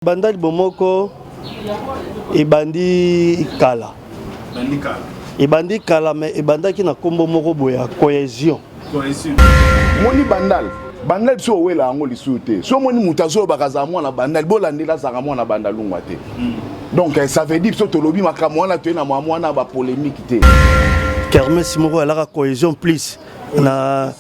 Bandali bomoko ebandi kala ebandi kala me ebandaki na nkombo moko boye ya cohesion moni bandal bandal biso owela yango lisusu te so omoni moto azolobaka azala mwana bandal bolandela azalaka mwana bandalungwa te hmm. donc eh, ça veut dire biso tolobi makambo wana toye na mwa mwana bapolémique te kermes moko alaka cohesion plus na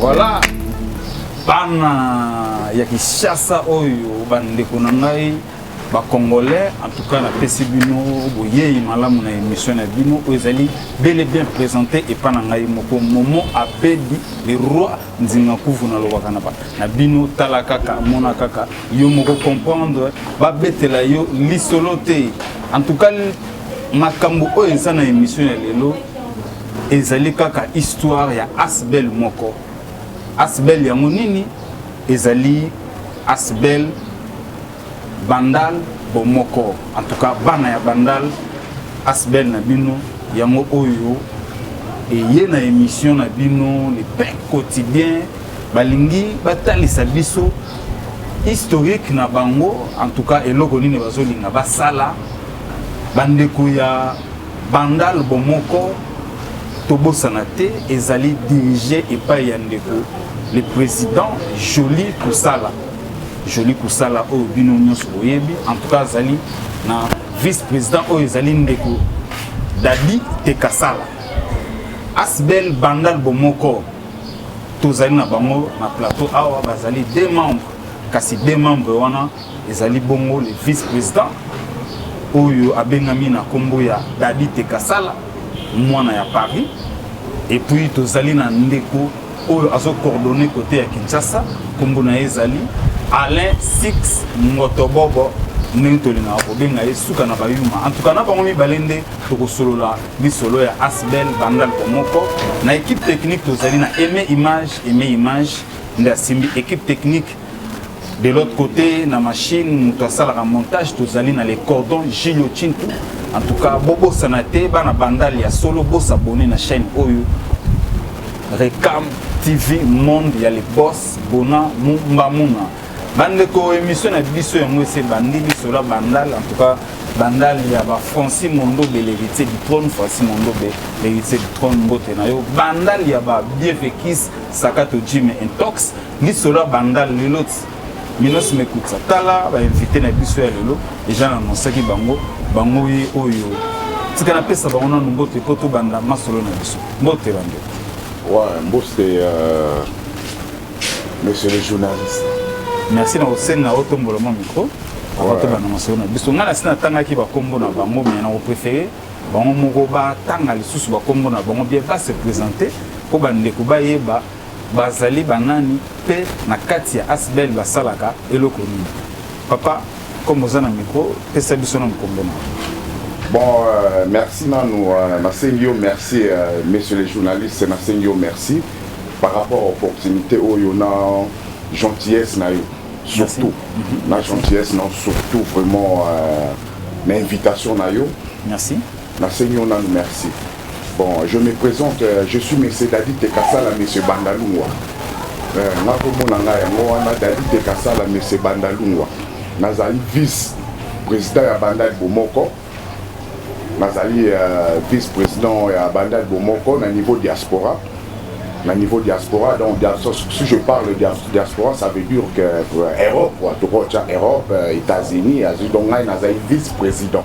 Voilà bana ya Kinshasa oyo bandeko na ngai ba congolais en tout cas napesi bino boyeyi malamu na émission na bino oyo ezali bel et bien présenté epa na ngai moko momo abedi le roi nzinga kufu nalobaka na na bino tala kaka mona kaka yo moko comprendre babetela yo lisolo te en tout cas makambo oyo eza na émission ya lelo ezali kaka histoire ya asbel moko asbel yango nini ezali asbel Bandal bomoko en tout cas bana ya bandal asbel na bino yango oyo eye na emission na bino le pain quotidien balingi batalisa biso historique na bango en tout cas eloko nini bazolinga basala bandeko ya bandal bomoko tobosana te ezali dirige epai ya ndeko le président joli kosala Jolie Kusala oyo bino nyonso boyebi en tout cas azali na vice président oyo ezali ndeko Dadi Tekasala Asbel Bandal bomoko tozali na bango na plateau awa bazali deux membres kasi deux membres wana ezali bongo le vice président oyo abengami na nkombo ya Dadi Tekasala mwana ya Paris et puis tozali na ndeko oyo azo coordonne kote ya kinshasa nkombo na ye ezali alain six ngotobobo ndenge tolingaka kobenga ye suka na bayuma antuka na bango mibale nde tokosolola lisolo ya asbel banda loko moko na ekipe technique tozali na aime image aime image nde asimbi ekipe technique De l'autre côté, na machine, mutu asalaka montage, tozali na le cordon Gilio Chintu. En tout cas, bobo sanate, bana bandal ya solo, bo s'abonner na chaîne Oyo. Recam TV Monde, il y a les boss, Bona, Mumba, Muna. bandeko émission na biso yango ese bandi biso la bandal en tout cas bandal ya ba Francis Mondobe l'héritier du trône Francis Mondobe l'héritier du trône mbote na yo bandal ya ba Biefekis Sakato Jim Intox Lisolo ya bandal lelo ti minos mekutsa tala ba invité na biso ya lelo eja na annonsaki bango bango ye oyo tika napesa bango nanu mbote mpo tobanda masolo na biso mbote bandeko wa mbote euh, monsieur le journaliste merci na kosenga otombola mwa micro avant tobanda masolo na biso ngai nasi natangaki bakombo na bango me nakoprefere bango moko batanga lisusu bakombo na bango bien base présente mpo bandeko bayeba Bazali banani pe na kati ya asbl basalaka eloko nini? Papa comme oza na micro pesa biso nanu kombo na yo. Bon merci nanu nasengi yo merci monsieur le journaliste nasengi yo merci par rapport ya opportunite oyo na gentillesse na yo surtout na gentillesse na yo surtout vraiment na invitation na yo. Merci. Nasengi yo nanu merci. Bon, je me presente, je suis Monsieur Dadi Tekasala, Monsieur Bandalungwa. Euh, nga kombo na nga yango wana Dadi Tekasala, Monsieur Bandalungwa. Nazali vice président ya Bandal Bomoko. Nazali euh, vice président ya Bandal Bomoko na niveau diaspora. na niveau diaspora donc si je parle diaspora ça veut dire que euh, europe quoi tokotia europe euh, états-unis azwi donc ngai nazali vice président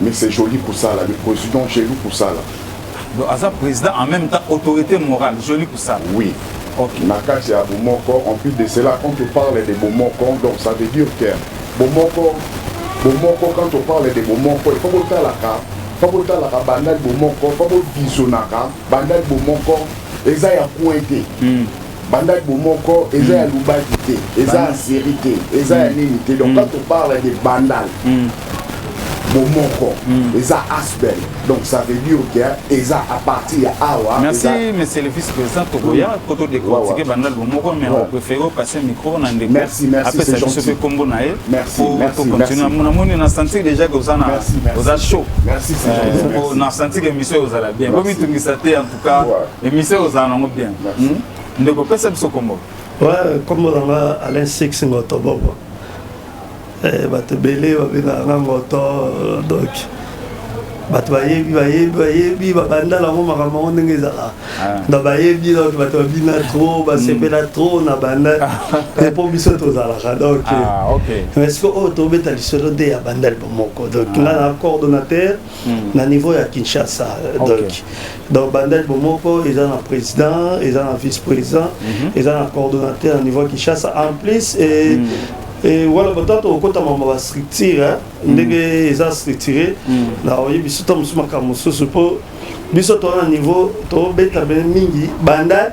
Mais c'est Jolie Kusala, le president Gelou Kusala. Donc aza president en même temps autorité morale, Jolie Kusala. Oui. Okay. Na kati ya Bomoko, en plus de cela, quand on parle de Bomoko, donc ça veut dire que Bomoko, Bomoko, quand on parle de Bomoko, il faut qu'on la carte. fa botalaka bandaki bomoko fa bovizionaka bandaki bomoko eza ya coin te hmm. banda bomoko eza ya lubaki te eza ya seri te eza ya nini te donc quand on parle de bandal bomoko eza asbel donc ça veut dire que eza à partir ya awa merci monsieur le vice président tokoya po to décortiquer bandal bomoko mais on préfère passer micro na ndeko merci merci c'est gentil apesa kombo na ye merci merci to continuer mon amoni na sentir déjà que oza na oza chaud merci c'est gentil na sentir que monsieur ozala bien bo mitungisa te ka emission ozala nango bien hmm? ndeko pesa biso kombo kombo na nga alain six ngoto bobo eh, bato ebele babengaka nga ngoto donc bato bayebi bayebi bayebi babanda nango makambo yango ndenge ezalaka ah. na bayebi donc bato babina trop basepela hmm. trop na banda te mpo biso tozalaka donc ah, mais siko oyo tobeta lisolo nde ya banda libo moko donc ah. nga na coordonnateur Hmm. na niveau ya kinshasa donc donc bandaki bomoko eza na président eza na vice président mhm. eza na coordonnateur na niveau ya kinshasa en plus hmm. wala batata okotama ma bastructure hein. hmm. ndenge eza structuré na oyebi suta mosusu makambo mosusu mpo biso toza na niveau tobeta bene mingi banda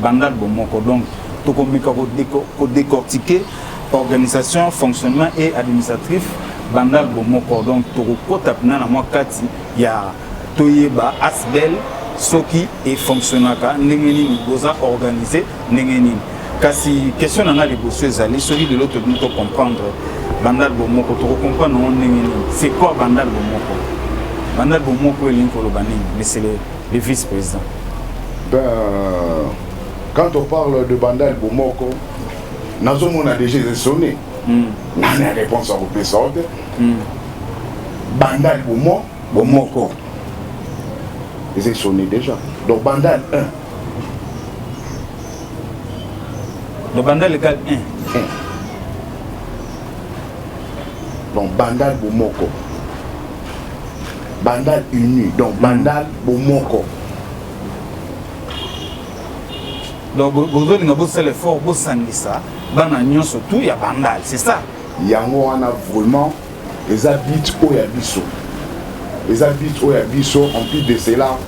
Bandal bomoko donc tokomeka ko decortiquer organisation, fonctionnement et administratif bandal bomoko donc tokokota pena na mwa kati ya toyeba asbel soki efonctionnaka ndenge nini boza organise ndenge nini kasi question na ngai liboso ezali soki lelo tobini tocomprendre bandal bomoko tokocomprendre yango ndenge nini c'est quoi bandal bomoko bandal bomoko elingi koloba nini meselele le vice président ben quand on parle de bandal bomoko nazomona déjà ezesone hmm. nani ya réponse akopesa yo te hmm. bandal bomo bomoko ezesone déjà donc bandal 1 donc bandal egal 1 donc bandal bomoko Bandal uni donc bandal mm. bomoko donc bozolinga bosala effort bosangisa bana nyonso tout ya bandal c'est ça yango wana vraiment eza bit oyo ya biso eza bit oyo ya biso en plus de cela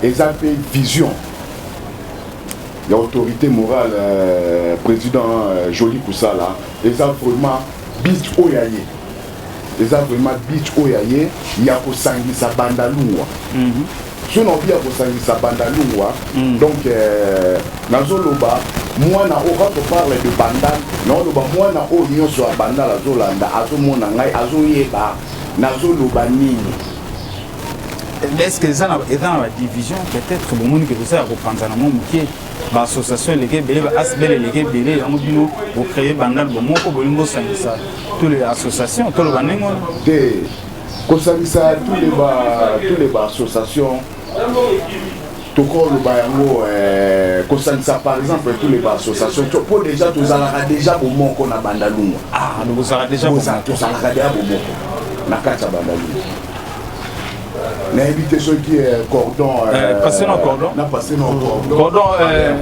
eza mpe vision ya autorité morale euh, président euh, joli kusala eza vraiment bit oyo ya ye Eza vraiment beach oyo ya ye ya kosangisa bandalungwa. Mm -hmm. soki naobi ya kosangisa bandalungwa mm. donc euh, nazoloba mwana oyo quand on parle de bandal naoloba mwana oyo nyonso ya bandal azolanda azomona ngai azoyeba nazoloba nini est-ce que eza na badivision peut-être bomoni ke toza ya kopanzana mwa moke baassociation eleki ebele baasbel eleki ebele yango bino bocreye bandal bomoko bolingi bosangisa Tous les associations, tout le banning. Te, kosangisa tous les ba, tous les ba associations. tokoloba yango eh, kosangisa par exemple tous les baassociation mpo déjà tozalaka déjà bomoko na bandalungwa ah, tozalaka déjà bomoko na kati ya bandalungwa nayebi te soki eh, cordon eh, eh, passe na cordon na passe na cordon cordon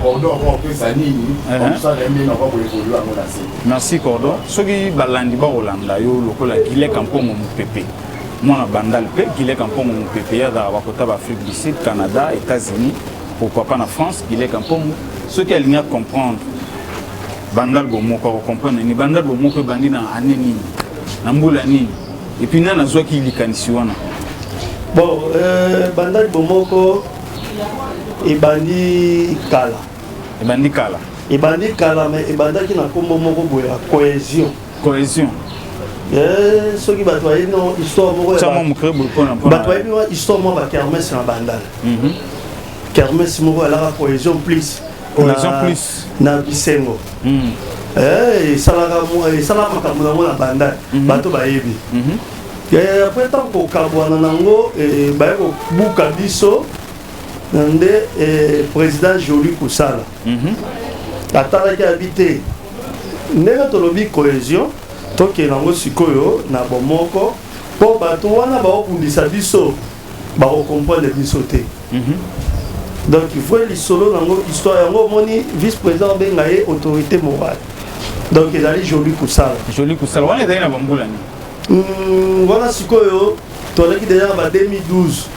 cordon ah, okopesa nini omusala ye ndenge nakoki koevolue yango na se merci cordon soki balandi bakolanda yo lokola gile kampongo mopepe mwana bandal mpe gile kampongo mopepe ye azalaka bakota baafrique du sud canada états-unis pourquoi pas na france gile kampongo soki alingi acomprendre bandal bomoko akocomprendre nini bandal bomoko ebandi na ane nini na mbula nini Et puis nani azwaki likanisi wana? Bon, euh, bandaki bomoko ebandi kala. Ebandi kala. Ebandi kala mais ebandaki na kombo moko boye ya cohésion. Cohésion. Eh, soki bato bayebi no histoire moko bato bayebi wa histoire moko bakermese na bandala mhm. kermese moko alaka cohésion plus na bisengo hmm. eh, esalaka esala makambo yango na bandai mhm. bato bayebi mhm. eh, apres ntango kokabwana nango eh, baye kobuka biso nde président joli kosala mhm. atalaki abi te ndenge tolobi cohésion tokende yango sikoyo na bomoko mpo bato wana baobundisa biso bako comprendre biso te donc vrai lisolo nango histoire yango omoni vice président obenga ye autorité morale donc ezali joli kosala joli kosala wana ezali na bambula nini hmm, wana sikoyo tozalaki deja na ba 2012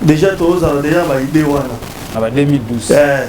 deja tozala deja na baide wana na ba 2012 eh.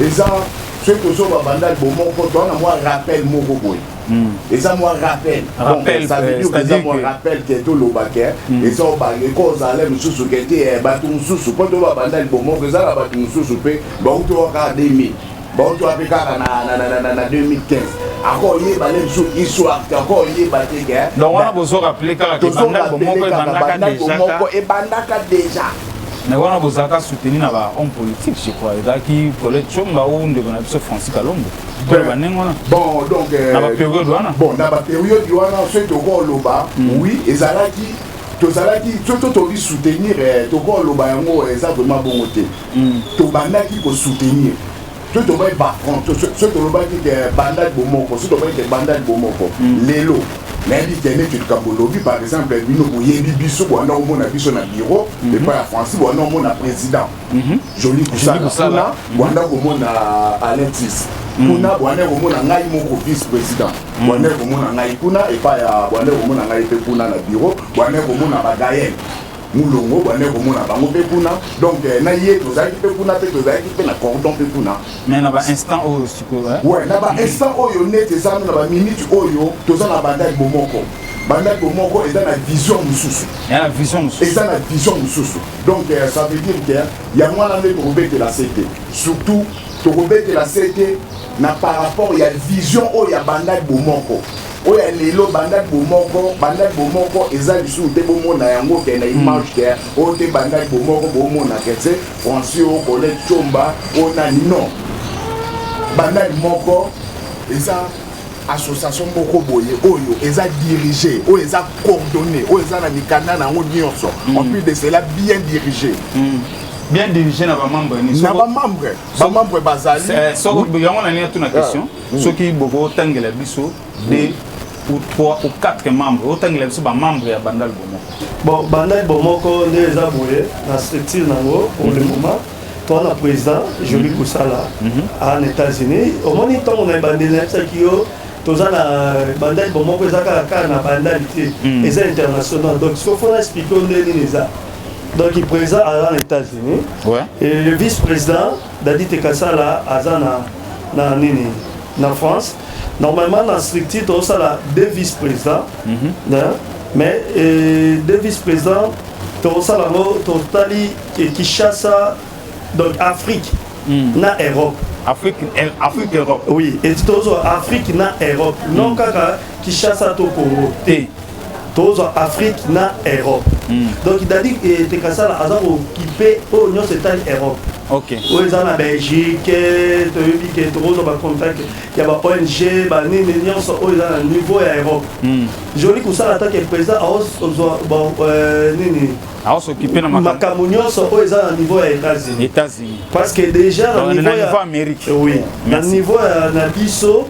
eza soki tozo ba bandal bo moko to na mwa rappel moko boye hmm. eza mwa rappel rappel ça veut dire eza mwa rappel que to loba que hmm. eza ba le ko za le mususu que te eh, ba tu mususu ko to ba bandal bo moko eza la ba tu mususu pe ba uto wa ka 2000 ba uto wa pe ka na na na na na 2015 ako ye ba le musu histoire que ako ye ba te que eh. donc wana bozo rappeler kaka que bandal bo moko e bandaka déjà ka e bandaka déjà Mais wana bozalaka soutenu na ba hommes politiques je crois ezalaki Colette Chomba ou ndeko na biso Francis Kalombo oyo banenge wana bon donc euh, na baperiode wana bon na baperiode wana soki tokoki oloba hmm. oui ezalaki tozalaki soki to tobi soutenir eh, tokoki oloba yango eh, eza vraiment bongo te hmm. tobandaki kosoutenir soki tolobaki bafront soki tolobaki ke bandali bomoko soki tolobaki ke bandali bomoko hmm. lelo nayebi te neti likambo olobi par exemple bino boyebi biso bowana omona biso na biro hmm. epai ya francis bowana omona président hmm. joli kusala kuna bowana komona alentis kuna bowana komona ngai moko vice président bowana komona ngai kuna epai ya bowana komona ngai mpe kuna na biro bowana komona bagael Mulongo obandaki komona bango pe kuna donc na ye tozalaki pe kuna pe tozalaki pe na cordon pe kuna mais na ba instant oyo sikoyo hein ouais na ba instant oyo net eza na ba minute oyo toza na bandaki bomoko bandaki bomoko eza na vision mosusu na vision mosusu eza na vision mosusu donc euh, ça veut dire que yango wana nde tokobetela se te surtout tokobetela se te na par rapport ya vision oyo ya bandaki bomoko Oyo ya lelo bandaki bomoko, bandaki bomoko eza lisusu te bomona yango ke na image te oyo te bandaki bomoko bomona ke tse Francis oyo kole chomba oyo nani non bandaki moko eza association moko boye oyo eza dirige oyo eza coordonné oyo eza na mikanda na yango nyonso en plus de cela bien dirige bien dirige na bamembre na bamembre bamembre bazali yango na nini atuna question soki bokotangela biso de ou 3 ou 4 membres otangela biso bamembre ya bandal bomoko bon bandal bomoko nde eza boye na structure nango pour le mhm. moment toa na président joli mhm. kosala mhm. en états-unis omoni ntango na ebandeli nayebisaki yo toza na bandali bomoko eza kaka kaka na bandali te eza international donc soki fona explike o nde nini eza donc président aza na états-unis et le vice président Dady Tekasala aza na na nini na France normalement na structure tozosala deux vice président mm -hmm. hein? mais euh, deux vice président tozosala yango totali Kinshasa donc Afrique mm. na Europe Afrique, Afrique Europe oui et tozwa Afrique na Europe mm. non kaka Kinshasa to Congo te tozwa afrique na europe mm. donc dadi eh, tekasala aza kokipe oyo nyonso etali europe okay. oyo eza na belgique toyebi ke tokozwa bacontact ya ba ong banini nyonso oyo eza na niveau ya europe mm. joli kosala atake président aozwa euh, nini aosokipe na makambo nyonso oyo eza na niveau ya états-unis états-unis parce que déjà na niveau ya amérique oui na niveau na biso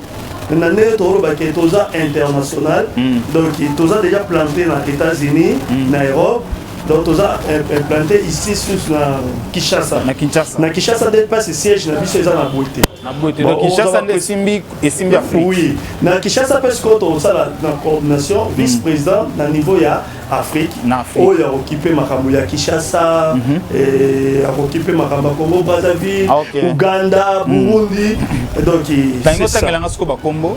na ndenge toloba ke toza international mm. donc toza déjà planté na états-unis mm. na europe donc toza eh, eh, planté ici sus na kinshasa na kinshasa na kinshasa nde mpasi siège na biso eza na boye te na boye te donc kinshasa nde esimbi esimbi afrique oui na kinshasa mpe sikoyo tokosala na coordination vice président na niveau ya Afrique na Afrique. Oyo akokipe makambo ya Kinshasa, mm -hmm. eh, akokipe makambo ya Congo Brazzaville, ah, okay. Uganda, mhm. Burundi. Mm -hmm. Donc c'est ça. Tango tanga siko ba Congo,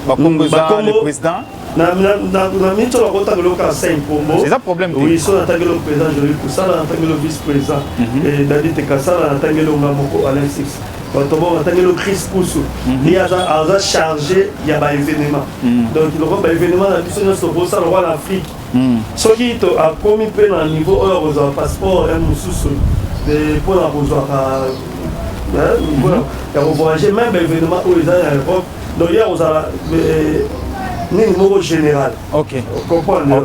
ba Congo mm, za le président. Na na na na minto la kota ko loka sain Congo. C'est ça problème. Oui, so na tanga le président, je lui kusala na tanga le vice-président. Mhm. Et David Tekasala na tanga le ngamoko Alexis. bato bango batangeli o crise kusu mhm. ye aza charge ya baevenement mhm. donc lokola baevenement na biso nyonso tokosala lokola na afrike mhm. soki akomi mpe na niveau oyo akozwa passeport ya mosusu mpo na kozwaka ya kovoyage meme baevenement oyo eza na europe donc ye akozala nini moko général comprendre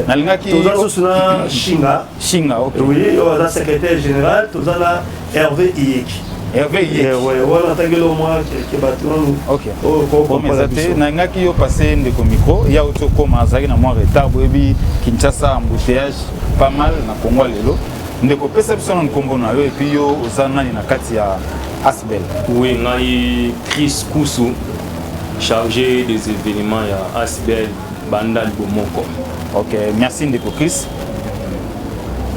nalingaki toza susu na shinga Shinga, ok. Oui, oyo aza secrétaire général, toza na Hervé Iyeki. Hervé Iyeki. Eh, ouais, wana tangi lo mwa ke bato wana. Ok. Oyo ko ko meza te, na ngaki yo passer ndeko micro, ya oto koma azaki na mwa retard boyebi Kinshasa embouteillage pas mal na Congo lelo. Ndeko pesa biso na nkombo na yo et puis yo oza nani na kati ya Asbel. Oui, ngai Chris Kusu chargé des événements ya Asbel banda libomoko. Ok, merci ndeko Chris.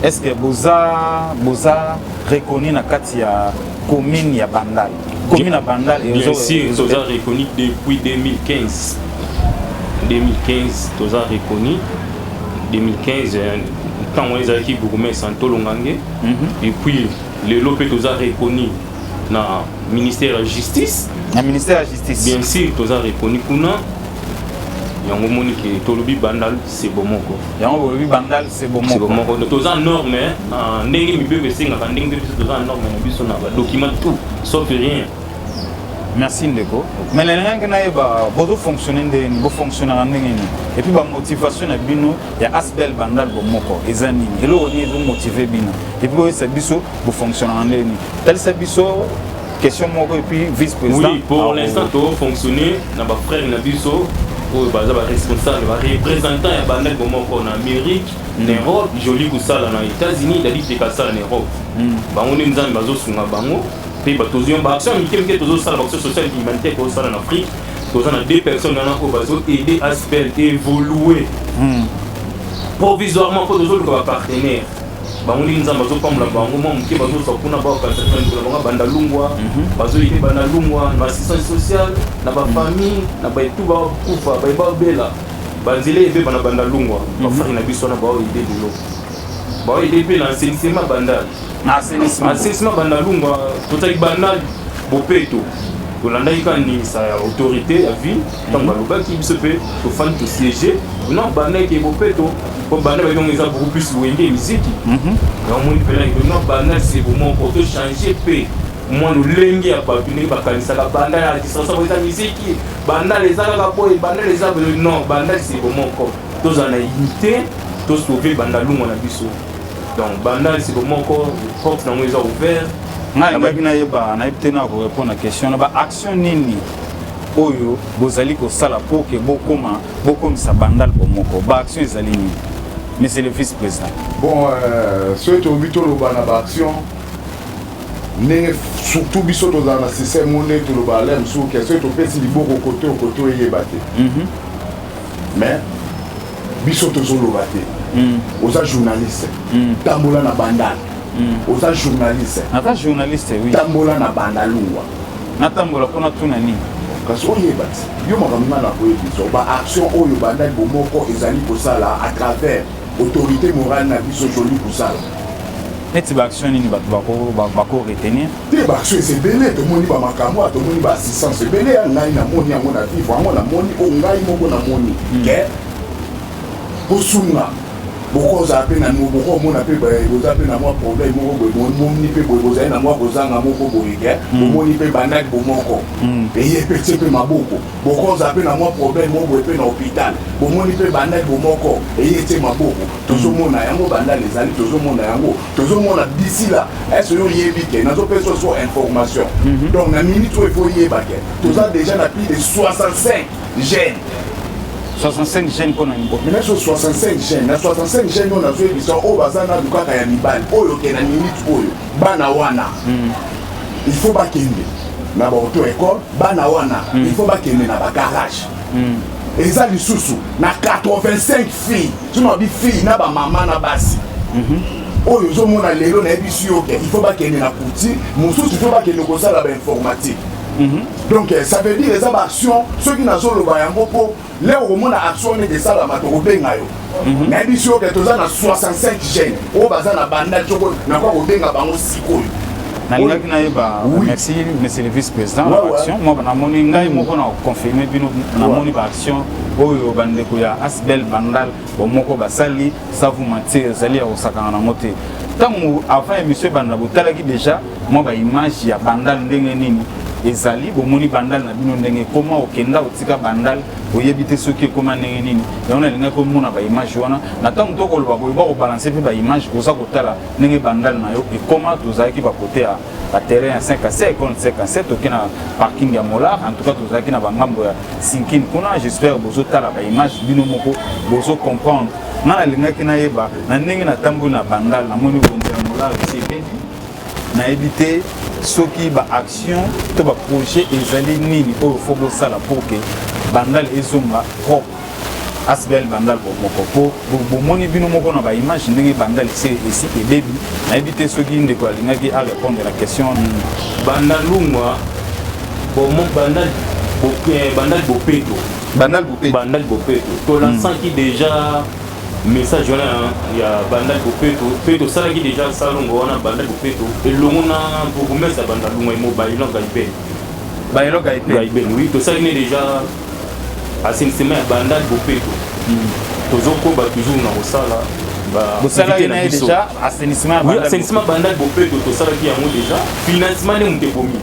est ce que boza boza reconnu na kati ya commune ya bandal commune ya bandal bien sûr toza reconnu depuis 2015 2015 toza reconnu 2015 ntango wana ezalaki bourgmestre antolo ngange mhm. epuis lelo mpe toza reconnu na ministère ya justice na ministère ya justice bien sûr toza reconnu kuna yango omoni ke tolobi bandal se bomoko yango bolobi bandal se bomoko toza norme ah, ndenge mibeko esengaka ndenge mpe biso toza na norme na biso na badocument tout sauf rien merci ndeko mais nalingange nayeba bozofonctionne nde nini bofonctionnaka ndenge nini epuis bamotivation na bino ya asbel bandal bomoko eza nini eloko nini ezomotive bino epuis boyesa biso bofonctionnaka ndenge nini talisa biso question moko et puis vice président oui pour l'instant to fonctionner na ba frères na biso oyo baza baresponsable barepresentant ya bandeko moko na amérique na europe joli kosala na états-unis dadi peka asala na europe hmm. bango nde nzambe bazosunga bango mpe tozwi baaction mike mike tozosala baaction sociale humanitaire tozosala na afrique toza na deux personnes wana oyo bazoaide aspel évolue hmm. provisoirement mpo tozoluka bapartenaire bango ndenge nzambe azopambola bango mwa moke bazozwa kuna baokanisa na mikolo bango banda lungwa mhm. bazoyi te banda lungwa na assistance sociale na bafamille na baitu bakufa baye babela banzela ebeba na banda lungwa mhm. bafari na biso wana baoyo ide bilo baoyo ide mpe na asenisema banda asenisema banda lungwa tozali banda bopeto tolandaki kaka ndingisa ya autorité ya ville ntango balobaki biso mpe tofandi tosiege na banda eke bopeto mpo banda bayongo eza beaucoup plus wenge miziki mhm. namoni mpela eke na banda sebo moko tochange mpe mwa lolenge ya bato ndenge bakanisaka banda ya distraction eza miziki bandal eza kaka boye bandal eza boye non bandal sebo moko tozala na unité tosauve banda lungwa na biso donc bandal sebo moko porte nango eza ouvert ngai nabaki nayeba nayebi te na korepondre na question na baaction nini oyo bozali kosala pour que bokoma bokomisa bandal bomoko ba action ezali nini monsieur le vice président bon euh, soki tolobi toloba na ba action ndenge surtout biso tozala na système oyo nde toloba ale mosusu ke soki topesi liboko kote okote oyeba te mhm. mais biso tozoloba te mhm. oza journaliste mhm. tambola na bandal hmm. oza journaliste naza journaliste oui tambola na banda lungwa natambola mpo natuna nini kasi oyeba ti yo makambo nga na koyebisa ba action oyo bandaki bomoko ezali kosala à travers autorité morale na biso toli kosala neti baaction nini bato bako retenir te baaction eza ebele tomoni bamakambo oyo tomoni baassistance ebele ya ngai namoni yango na vivre yango namoni oyo ngai moko namoni ke hmm. kosunga bokozala mpe na bokomona mpe boza mpe na mwa problème moko boye bomoni mpe boye bozali na mwa kozanga moko boye ke hmm. bomoni mpe bandaki bomoko hmm. eye mpe tie mpe maboko bokozala mpe na mwa problème moko boye mpe na hôpital bomoni mpe bandaki bomoko eye tie maboko hmm. tozomona yango bandali ezali tozomona yango tozomona d'ici là est-ce yo oyebi ke nazopesa so information donc na minute oyo efo oyeba ke toza déjà na plus de 65 gene 65 gene mpo na nini nazo 65 gene na 65 gene oyo nazoyebisa oyo baza nanu kaka ya mibali oyo oke na minute oyo bana wana hmm. il faut bakende na baauto école bana wana hmm. il faut bakende na bagarage hmm. eza lisusu na 85 fille sima bi fille na bamama na basi mhm. oyo ozomona lelo nayebisi yo ke il faut bakende na kuti mosusu il faut bakende kosala bainformatique Mhm. donc eh, ça veut dire eza baaction soki nazoloba yango mpo leo okomona action nete esalama tokobenga yo mhm. nayebi si oke toza na 65 gene oyo baza na banda coko nakoya kobenga bango sikoyo nalingaki nayeba merci monsieur le vice président na baaction mwa namoni ngai mhm. moko na confirme bino namoni baaction oyo bandeko ya asbel bandal bomoko basali savu mantie ezali ya kosakana nango te ntango avant émission ebanda botalaki déjà mwa ba image ya bandal ndenge nini ezali bomoni bandal na bino ndenge ekoma okenda otika bandal oyebi te soki ekoma ndenge nini yango nalingaki omona baimage wana na ntango tokoloba boye bakobalanse mpe baimage oza kotala ndenge bandal na yo ekoma tozalaki bakote ya baterrain ya 5 a 7 kon 5 a 7 toke na parking ya molar en tout cas tozalaki na bangambo ya sinkin kuna j'espère bozotala baimage bino moko bozo comprendre nga nalingaki nayeba na ndenge natamboli na bandal namoni bonzi ya molar esi ebeni nayebi te soki baaction to baprojet ezali nini oyo fo bosala mpo ke bandal ezonga propre asbl bandal bomoko mpo bomoni bino moko na baimage ndenge bandal esi esi ebebi nayebi te soki ndeko alingaki arépondre na question nini bandalungwa bomo bandal eh, bandal bopeto bandal bopeto bandal bopeto tolansaki mm. déjà Message wana ya Bandal Bopeto pe tosalaki deja salongo wana Bandal Bopeto elongo na bourgmestre ya Bandal Lunga Imo Bailon Gaiben. Bailon Gaiben. Gaiben oui tosalaki ne deja assainissement ya Bandal Bopeto. Mm. Tozokoba toujours na kosala bosalaki na ye deja assainissement ya Bandal Bopeto tosalaki yango deja financement nde moto ebomi.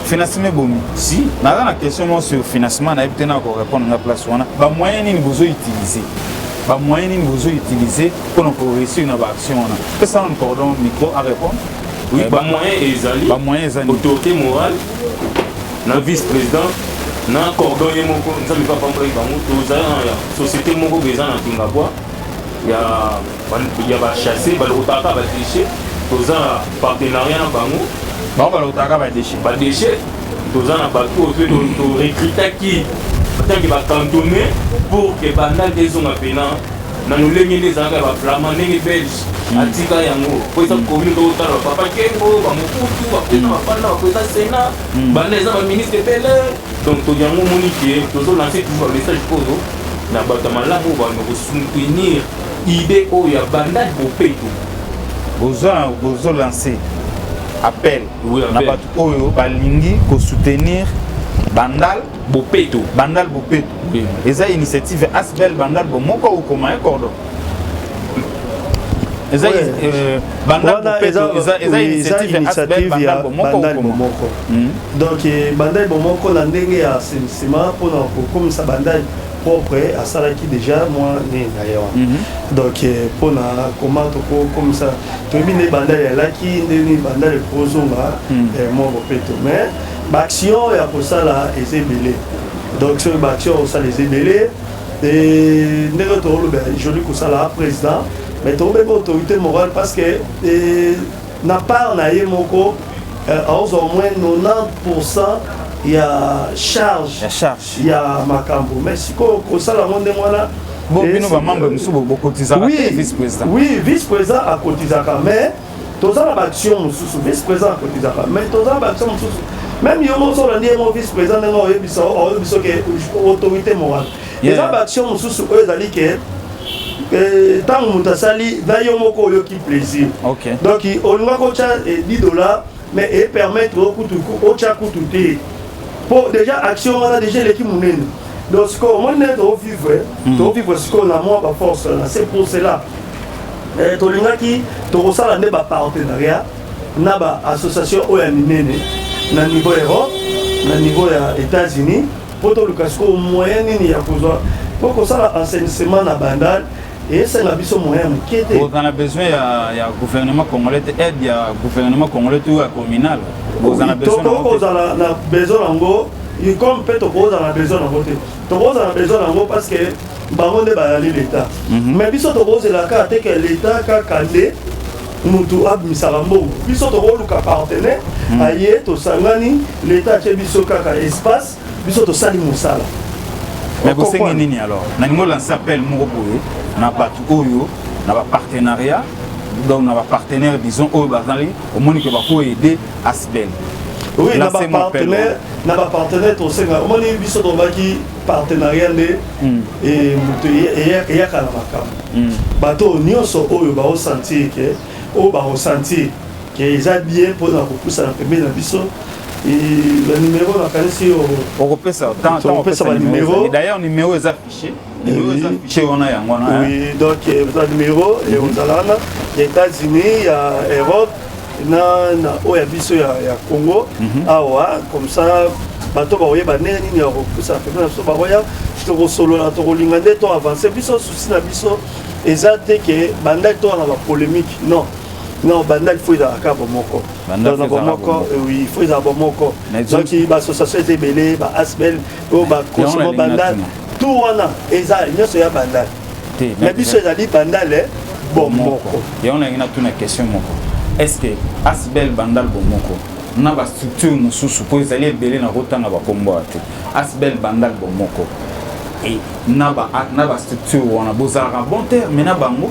financement ebomi si naza na question moko sur financement nayebi te nako répondre nga place wana bamoyen nini bozo utilise bamoyen nini bozo utilise mpo na koreusir na baaction wana pesana na cordon micro a répondre oui eh, bamoyen ezali bamoyen ezali autorité morale na vice président na cordon ye moko nzambe papambolaki bango tozali na société moko boye eza na kingabwa ya Ba ya ba chasse ba lokota ka ba déchets toza na partenariat na bango. Bango ba lokota ka ba déchets. Ba déchets toza na bato oyo mpe to recrutaki batangi ba cantonné pour que banda nde ezonga mpena na lolenge nde ezalaka ya baflama ndenge belge hmm. atika yango mpo eza komi tokotala bapapa kengo bamokutu baprena bafanda bapreza sena banda eza baministre ebele donc to yango omoni ke tozolanse toujours bamessage oyo na bato ya malamu oyo bando kosoutenir Idee oyo ya bandade bopeto. Bozo bozo lancer appel oui, na bato oyo balingi ko soutenir bandal bopeto bandal bopeto oui. eza initiative ya asbel bandal bomoko okoma ye cordon eza ouais. euh, bandal bopeto eza, eza oui, initiative ya asbel bandal bomoko okoma hmm. donc eh, bandal bomoko na ndenge ya sentiment mpona kokomisa bandal propre asalaki deja mwa nini na ye wana mhm. donc eh, mpo na koma tokokomisa toyebi nde bandal yalaki nde nini bandal ekozonga mhm. eh, mwa bopeto mais baaction ya kosala eza ebele donc soki baaction ya kosala eza ebele eh, ndenge tokolobela joli kosala président mais tokobeba autorité morale parce que na part na ye moko aozwa au moins 90 ya charge ya charge ya makambo mais sikoyo kosala yango ndenge wana bino bamembre mosusu bokotizaka te vice président oui vice président akotizaka mais toza na baaction mosusu vice président akotizaka mais toza na baaction mosusu même yo moko soki olandi ye moko vice président ndenge oyebisa oyebisa ke autorité morale eza baaction mosusu oyo ezali ke ntango eh, moto asali na yo moko oyoki plaisir donc olingaki otya 10 eh, dollars mais e permettre yo kutu otya kutu te po déjà action wana déjà eleki monene donc sikoyo omoni nde tovivre hmm. tovivre sikoyo na mwa baforce wana c'est pour cela eh, tolingaki tokosala nde bapartenariat na baassociation oyo ya minene na niveau europe na niveau ya états-unis mpo toluka sikoyo moyen nini ya kozwa mpo kosala enseignement na bandal esenga biso moyen ya moke te bozana besoin ya, ya gouvernement congolais te aide ya gouvernement congolais to ya communal bozana besoin tokozala na besoin yango comme mpe tokozala na besoin yango te tokozala na besoin yango parce que bango nde bayali leta mhm. mais biso tokozela kaka te ke leta kaka nde mutu abimisaka mbongo biso tokoluka partenaire mhm. aye tosangani leta atye biso kaka espace Biso tosali mosala. Mais bosengi nini alors? Nalingi olancer appel moko boye na bato oyo na ba partenariat donc na ba partenaires disons oyo bazali omoni ke bako aider Asbel. Oui, na ba partenaires na ba partenaires tosenga omoni biso tobaki partenariat nde hmm. e moto eyaka na makambo. Hmm. Bato nyonso oyo baosentir ke oyo baosentir ke eza bien mpo na kopusana pembeni na biso banimero nakanisi okopesa okopesa banimero d'ailleurs nimero eza fiche nimero eza fiche wana yango wana oui donc eza nimero ekozala wana ya états-unis ya europe na na oyo ya biso ya, ya congo mm -hmm. awa comme ça bato bakoyeba ndenge nini ya kopusana pembeni na biso bakoya tokosolola tokolinga nde to avance biso susi na biso eza te ke bandaki towana bapolémique non Non, banda il faut ezala ka bomoko. Dans na bomoko, oui, il faut ezala bomoko. Donc ba association est belé, ba asbel, o ba consommer banda tout wana eza nyoso ya banda. Mais biso ezali banda le bomoko. Et on a une tuna question moko. Est-ce que asbel banda le bomoko na ba structure mosusu po ezali ebele na kotanga ba kombo te. Asbel banda le bomoko. Et na ba na ba structure wana bozalaka bon terme na bango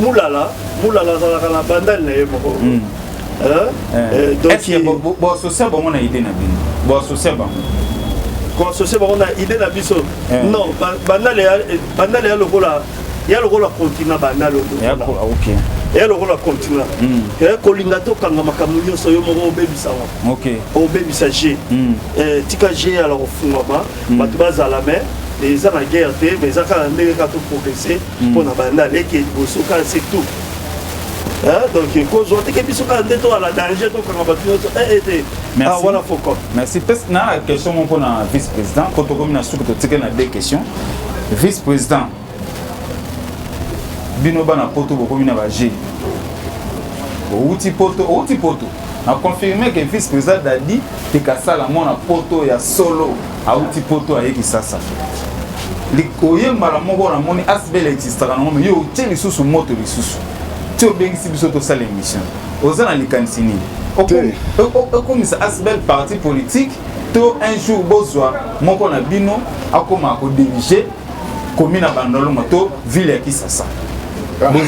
Mulala, Mulala azalaka na bandali na ye moko. Mm. Hein? Eh. Eh, donc, Est-ce que bo- bo- bo associa bango na idée na bino Bo associa bango koassocie bango na idée na biso Eh. non ba- bandale ya- eh, bandale ya lokola ya lokola continent bandale oyo. Ya ko- ah, ok ya lokola continent Mm. Eh, kolinga tokanga makambo nyonso yo moko obebisa ngo ok obebisa g Mm. Eh, tika g ala kofungwama bato bazala me eza na guerre te mais eza kaka ndenge kaka toprogresse mpo na banda leke liboso kaka se tout donc kozwa teke biso kaka nde toala danger tokanga bato nyonso ete eh, eh, ah, wana foko merci pes na question moko mpona vice président mpo tokomi na suki totike na deux question vice président bino bana poto bokomi na baje outi poto outi poto na confirme que vice président dadi tekasala mwana poto ya solo awuti poto aye kisasa oye mbala moko namoni asbel existaka nango me yo otie lisusu moto lisusu ti obengisi biso tosala émission oza na likanisi nini okomisa asbel parti politique to un jour bozwa moko na bino akoma kodirige komi na bandolongo to ville ya kisasa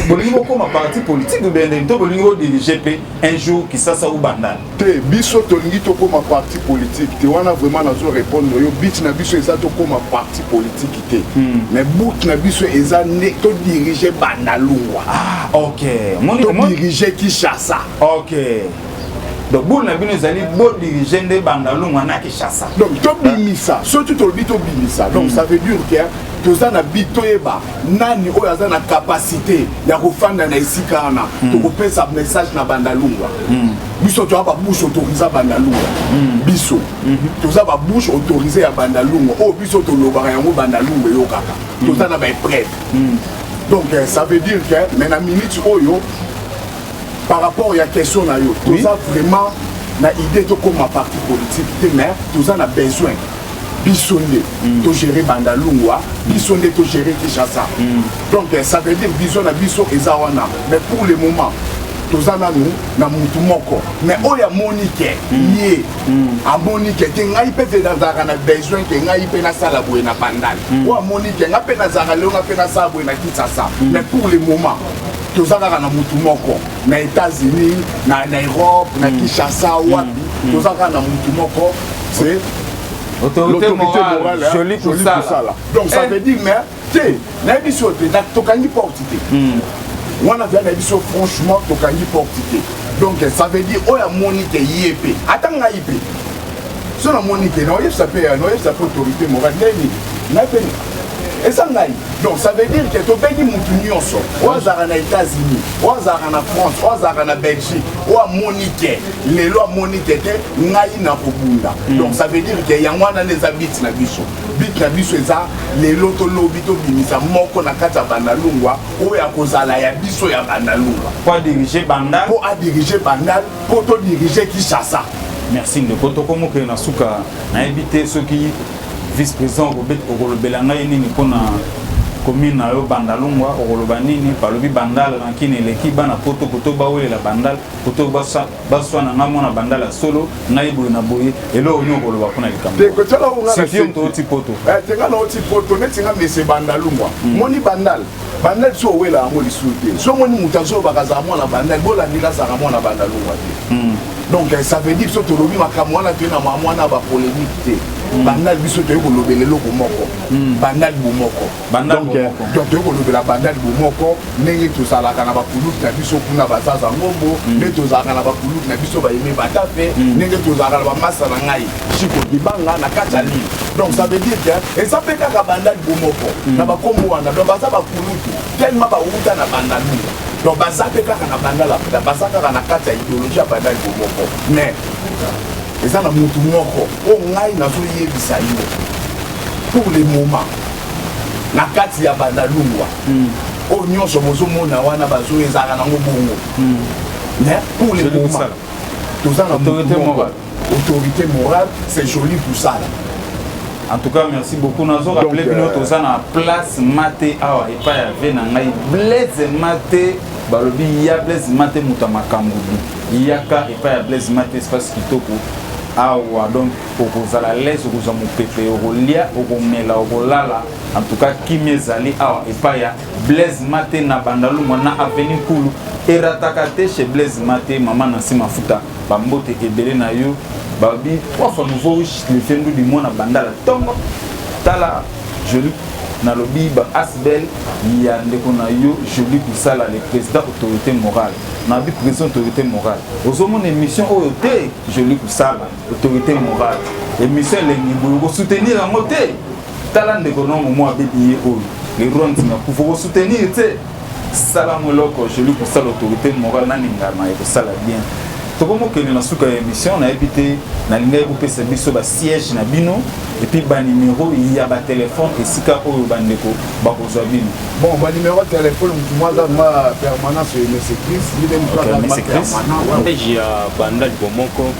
bolingi bokoma parti politique obende to bolingi bodirige mpe un jour kisasa ou bandal te biso tolingi tokoma parti politique te wana vraiment nazo répondre yo but na biso eza tokoma parti politique te hmm. mais but na biso eza nde todirige bandalungwa ah, ok todirige kinshasa ok donc bule na bino ezali bodirige nde bandalungwa na kinshasa donc tobimisa soki tolobi tobimisa donc hmm. ça veut dire que toza na bi toyeba nani oyo aza na kapasite ya kofanda na esika wana mm. tokopesa message na bandalungwa mm. biso toza babouche autorise bandalungwa mm. biso mm -hmm. toza babouche autorise ya bandalungwa oyo oh, biso tolobaka yango bandalungwa eyokaka mm. toza na baepreuve mm. donc eh, ça veut dire que mais na minute oyo par rapport ya question na yo toza oui. vraiment na idée tokóma parti politique te mais toza na besoin biso nde mm. togere banda lungwa biso nde togere kinshasa mm. donc eh, ça veut dire vision na biso eza wana mais pour le moment toza nanu na mutu moko mais oyo amoni ke mm. ye amoni ke te ngai mpe te nazalaka na besoin ke ngai mpe nasala boye na bandal oyo amoni ke ngai mpe nazalaka leo ngai mpe nasala boye na kinsasa mais pour le moment toza kaka na mutu moko na états-unis na europe na kinshasa wapi toza kaka na mutu moko c'est l'autorité morale jolie kusala donc ça eh. veut dire mais te nayebi so te tokangi porte te hmm. wana vya nayebi so franchement tokangi porte te donc ça veut dire oyo amoni te ye mpe ata ngai mpe so namoni te naoyebisa mpe naoyebisa mpe autorité morale ndeni ngai mpe eza ngai donc ça veut dire que tobengi motu nyonso oyo azalaka na états-unis oyo azalaka na france oyo azalaka na belgique oyo amoni te lelo amoni te te ngai nakobunda mm. donc ça veut dire ke yango wana nde eza bit na biso bit na biso eza lelo to lobi tobimisa moko na kati ya bandalungwa oyo akozala ya biso ya bandalungwa po adirige bandal po adirige bandal po todirige kinshasa merci ndeko tokomokele na suka nayebi te soki vice président okolobela ngai nini mpona commune na yo bandalungwa okoloba nini balobi bandal rankine eleki bana poto poto bawelela bandal poto baswa na ngai mwana bandala solo ngai boye na boye eloko nini okoloba mpo na likambotooti poto eh, te nga naoti poto neti nga mese bandalu mwa hmm. moni bandal bandal so owela yango lisusu te so omoni moto azolobaka azala mwana bandal bolandika azalaka mwana bandalu mwa te hmm. donc eh, ça veut dire so tolobi makambo wana toye na mamwana bapolémique te hmm. bandal biso toyei kolobela eloko moko bandal bomoko Banda donc eh, donc toyei kolobela bandali bomoko ndenge tozalaka na bakulutu na biso kuna bazaza ngombo mm. nde tozalaka na bakulutu na biso bayeme batape mm. ndenge tozalaka na bamasa na ngai chiko libanga na kati ya lile donc ça veut dire que eza mpe kaka bandali bomoko mm. na bakombo wana donc baza bakulutu tellement bawuta na bandali donc baza mpe kaka na bandala baza kaka na kati ya idéologie ya bandali bomoko mais eza na motu moko oyo ngai nazoyebisa yo pour le moment na kati ya bandalungwa mm. oyo oh, nyonso bozomona wana bazo ezalaka nango bongo mm. mais pour le moment toza na autorité morale autorité morale c'est joli kosala en tout cas merci beaucoup nazo rappele bino euh, toza na place mate awa epai ya ve na ngai blaise mate balobi ya blaise mate moto ya makambo bi yaka epai ya blaise mate espace kitoko awa donc okozala alaise okozwa mopepe okolia okomela okolala antuka kimia ezali awa epai ya blaise mate na bandalungwa na aveni nkulu erataka te chez blaise mate mama na nsima futa bambote ebele na yo babi trois fois nouveau lifendu limona bandala ntongo tala joli nalobi ba asbel ya ndeko na yo joli kosala le président autorité morale nabi président autorité morale ozomona émission oyo te joli kosala autorité morale emission elengi boye okosoutenir yango te tala ndeko nongo mwa abebi ye oyo leronti na kufa okosoutenir te sala mo eloko joli kosala autorité morale naningama ekosala bien tokomokende na suka ya émission nayebi te nalingaki kopesa biso basiège na bino epuis banimero ya batelefone esika oyo bandeko bakozwa bino bon banimero ya telefone motu mwa aza ma permanence ya msecris ye nde motu aza ma permanent ya banda libomoko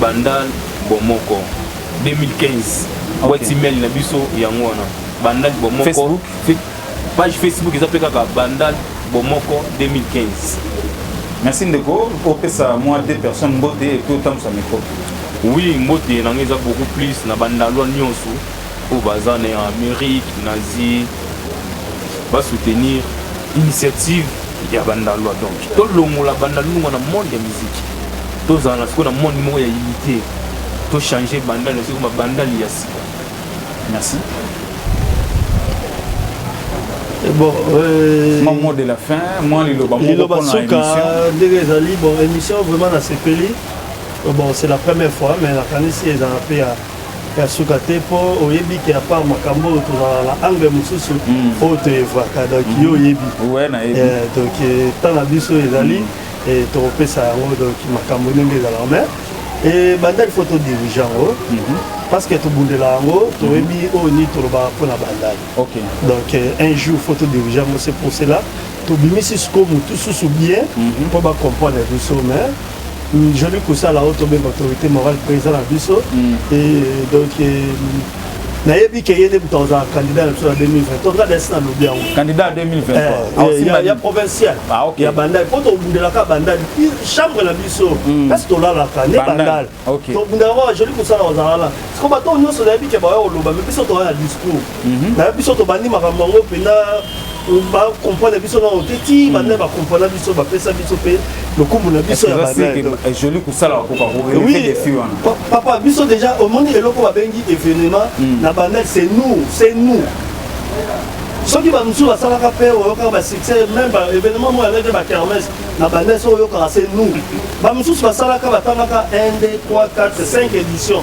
Banda bomoko 2015 boîte email na biso yango wana banda bomoko Facebook page Facebook eza pe kaka banda bomoko 2015 merci ndeko opesa mwa deux personnes mbote epuis otambusa micro oui mbote na ngai eza beaucoup plus na bandalwa nyonso oyo baza na amérique na asie basoutenir initiative ya bandalwa donc tolongola bandalunga na monde ya miziki Tozala sikoyo na monde moko ya unite, to changer bandal na biso ekoma bandal ya sika. Merci. Eh, bon, euh, mon mot de la fin, moi liloba moko liloba suka ndenge ezali bon émission vraiment na sepeli. Bon, c'est la première fois mais la kanisi ezala pe ya ya suka te mpo oyebi ke apart makambo oyo tozala na angle mosusu hmm. oyo toyevaka donc yo hmm. oyebi eh, donc eh, temps na biso ezali hmm. e tokopesa yango donc makambo ndenge ezalaka mais ebandaki fo todirige yango mhm. parce que tobundela yango toyebi mhm. oyo nini tolobaka mpo na bandali donc euh, un jour fo todirige yango c'est pour cela tobimisi siko motu susu bien mhm. mpo bacomprendre biso mais joli kosala oyo tobenga autorité morale président na biso e donc euh, nayebi ke ye nde moto akozala candidat na biso na 2023 nga dasi nalobi yango candidat 2023 ya provincial ah, ya bandal mpo tobundelaka bandal chambre na biso hmm. kasi tolalaka nde bandal tobundaka kaka joli kosala kozalala siko bato nyonso nayebi ke baya koloba me biso toya na discours mhm. nayebi biso tobandi makambo yango mpenza ba comprendre biso na ote ti banda ba comprendre biso ba pesa biso pe lokumu na biso ya ba na joli kusala ko ko oui des filles wana papa biso déjà au monde eloko ba bengi événement hmm. na banda c'est nous c'est nous soki bamosusu basalaka mpe oyokaka basuccès meme baévénement moko yango ete bakermese na bande so oyokaka se nous bamosusu basalaka batangaka 1 2 3 4 5 édition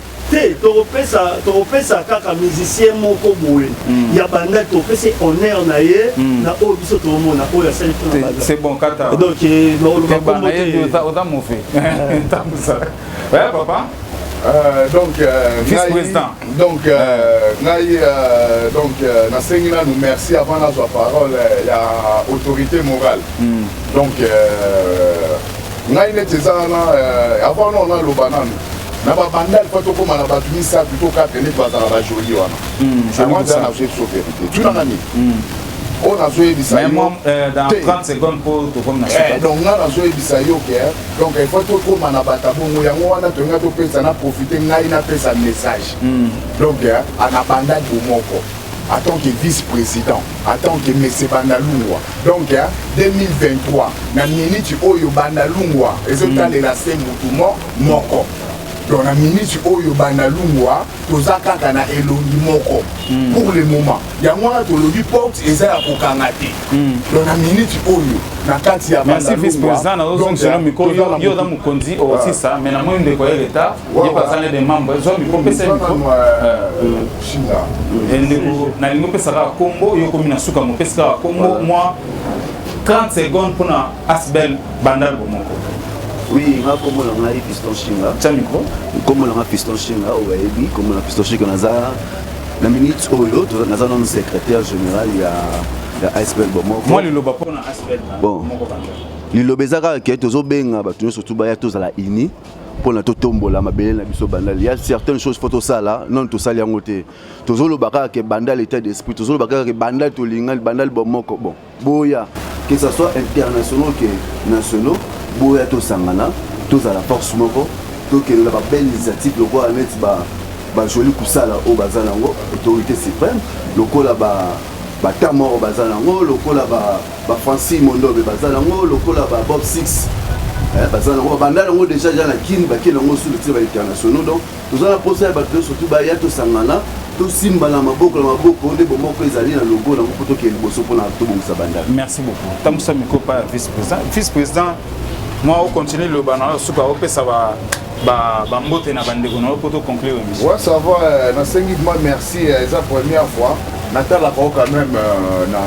te tokopesa tokopesa kaka musicien moko boye mm. ya banda topesi honneur na ye mm. na oyo biso toomona oyo asali c'est bon kata donc eh, oza mofe tambusa oya papa Euh, donc euh, vice président donc euh, ngai euh, donc euh, nasengi nanu merci avant nazwa parole euh, ya autorité morale mm. donc euh, Ngai neti eza wana euh, avant non naloba nanu na babanda lipa tokóma na bato misato to kate neti bazala bajoli wana hmm, wana eza nazoyebi so verité tunanga nini hmm. oyo nazoyebisa yo donc euh, eh, nga nazoyebisa yo ke donc il faut tokóma na bato bongo yango wana tolinga topesa na profite ngai napesa message hmm. donc anabandaki bomoko atant que vice president atant que monsieur bandalungwa donc 2023 na minute oyo bandalungwa ezotalela se mutu mo moko donc na minute oyo bandalungwa toza kaka na elongi moko hmm. pour le moment yango wana tolobi porte eza ya kokanga te hmm. donc na minute oyo na kati ya bandalungwa donc toza na mokonzi osisa mais na moi ndeko ya leta nalingi opesa kaka kombo yo komi na suka mopesi kaka kombo mwa 30 seconde mpona asbel bandal bomoko oui nga kombo na ngai piston shinga tya mikro kombo na nga piston shinga oyo bayebi kombo na piston shinga naza na minute oyo naza nanu secrétaire général ya ya asbel bomoko mwa liloba mpona asbel bomoko liloba eza kaka ke tozobenga bato nyonso tu baya tozala uni mpo na totombola mabele na biso bandali ya certaines choses fo tosala nano tosali yango te tozoloba kaka ke bandali état d'esprit tozoloba kaka ke bandali tolingani bandali bomoko bon boya que ça soit internationaux ke nationaux boya tosangana tozala force moko tokende na babelle initiative lokola neti ba bajoli kosala oyo baza nango autorité suprême lokola batama oyo baza nango lokola ba Ba Francis Mondobe baza nango lokola ba Bob Six eh, baza nango babanda nango deja ja na Kin bake nango sulu ti ba internationaux donc toza na posa ya bato nyonso tu baya tosangana tosimbana maboko na maboko nde bomoko ezali na logo nango mpo tokende liboso mpona tobongisa bandako merci beaucoup tambusa mikopa ya vice président vice président mwa ocontinue loba na yo suka opesa ba ba ba mbote na bandeko na yo mpo to conclure émission ouais, ça va euh, nasengi ma merci euh, eza première fois natalaka yo quand même euh, na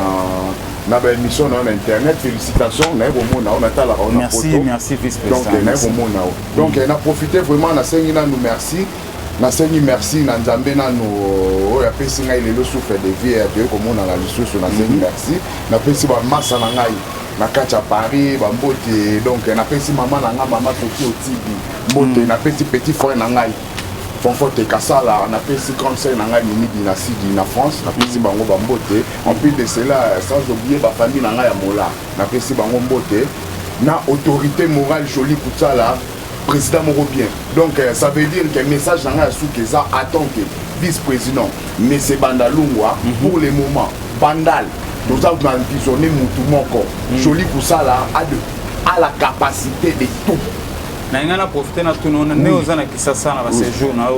na baémission na yo na internet félicitation naye komona yo natalaka yo na poto donc naye komona yo donc na profite vraiment nasengi nanu merci nasengi merci na nzambe nanu oyo apesi ngai lelo souffle de vie toyei komonana lisusu nasengi mhm. merci napesi bamasa na ngai na kati ya paris bambote donc napesi mama na ngai mama toki otibi mbote mm. napesi petit frère na ngai fonfote kasala napesi grande sœur na ngai mimidi na sidi na france napesi bango bambote en plus de cela sans oublier bafamille na ngai ya mola napesi bango mbote na autorité morale jolie kutsala president moko bien donc euh, ça veut dire que message na ngai ya suka eza attend te vice président mese banda lungwa mhm. pour le moment bandal toza na visionne mutu moko mhm. joli kosala a la capacité de tout na ngai na profite na tuna ona nde oza na kisasa na basejour na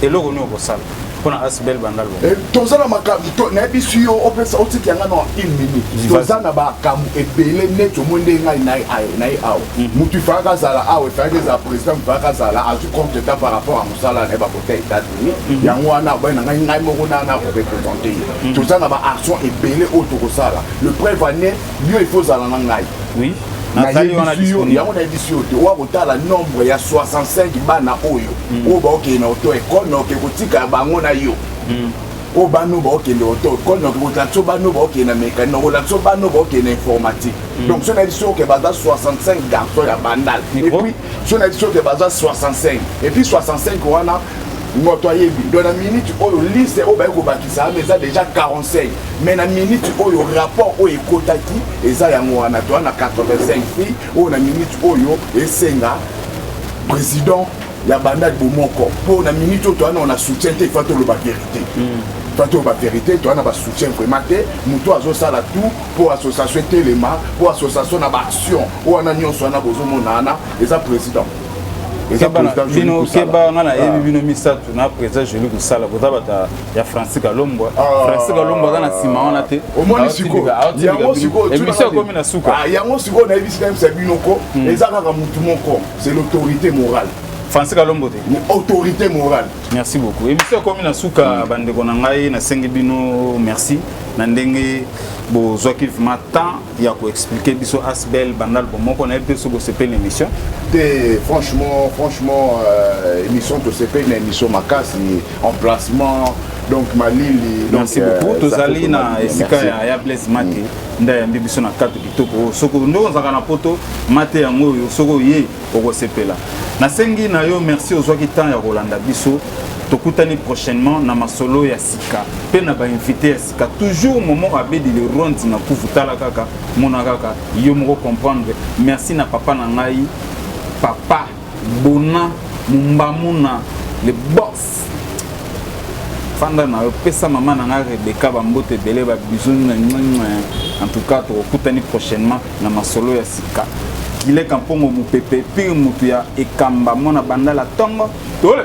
eloko nini okosala mpona asbel banda loboko eh, toza na makambo nayebisi yo opesa otiki yanga na une minute toza na makambo ebele neti omoi nde ngai naye awa mhm. motu ifalaka azala awa ifalaki ezala président ifalaka azala azwi compte ta par rapport ya mosala na ye bakota états-unis mhm. yango wana abai na ngai ngai moko na na korepresente ye mhm. toza na baaction ebele oyo tokosala le preuve ane yo il faut ozala na ngai oui yango nayebisi yo te oya kotala nombre ya 65 bana oyo mm. oyo baokende na oto ekole na oke kotika bango na yo mm. oyo bano baokende oto ekole na oke kotala biso bano baokende na mécanique nakolata biso bano baokende na informatique mm. donc so nayebi soke baza 65 garçon ya bandal epuis so nayebi soke baza 65 epuis 65 wana moto ayebi donc na minute oyo liste oyo baye kobakisa wana eza déjà 45 mais na minute oyo rapport oyo ekotaki eza yango wana toa na 85 prix oyo na minute oyo esenga président ya bandaki bomoko mpo na minute oyo toa nao na soutien te ifa toloba verité mm. bato oyo baverité toza na basoutien vraiment te moto azosala tout mpo association etelema mpo association na baaction oyo wana nyonso wana bozomona wana eza président bino keba nga nayebi ah. bino misato na président joli kosala boza bata ya francis kalombwa ah. francis kalombwa aza na nsima wana te emission ekomi na suka ah, yango sikoyo nayebisi nayebisa bino ko hmm. eza kaka motu moko c'est l'autorité morale francis kalombo te autorité morale merci beaucoup emission ekomi na suka hmm. bandeko na ngai nasengi bino merci na ndenge bozwaki vraiment temps ya ko expliquer biso asbel banda album moko na ye mpe soki osepeli na émission te franchement franchement euh, émission tosepeli na émission makasi emplacement donc malili merci euh, beaucoup tozali na esika ya, ya blaise mate mm. nde ayambi biso na karte kitoko soki nde ozalaka na poto mate yango oyo soki oye okosepela nasengi na yo merci ozwaki temps ya kolanda biso tokutani prochainement na masolo ya sika mpe na bainvite ya ka toujours momo abedi le ronde na kufu tala kaka mona kaka yo moko comprendre merci na papa na ngai papa bona mumbamuna le boss fanda na yo pesa mama na ngai rebeka bambote ebele babizoni na en tout cas tokokutani prochainement na masolo ya sika gileka mpongo mopepe pire motu ya ekamba mwana bandala ntongo tole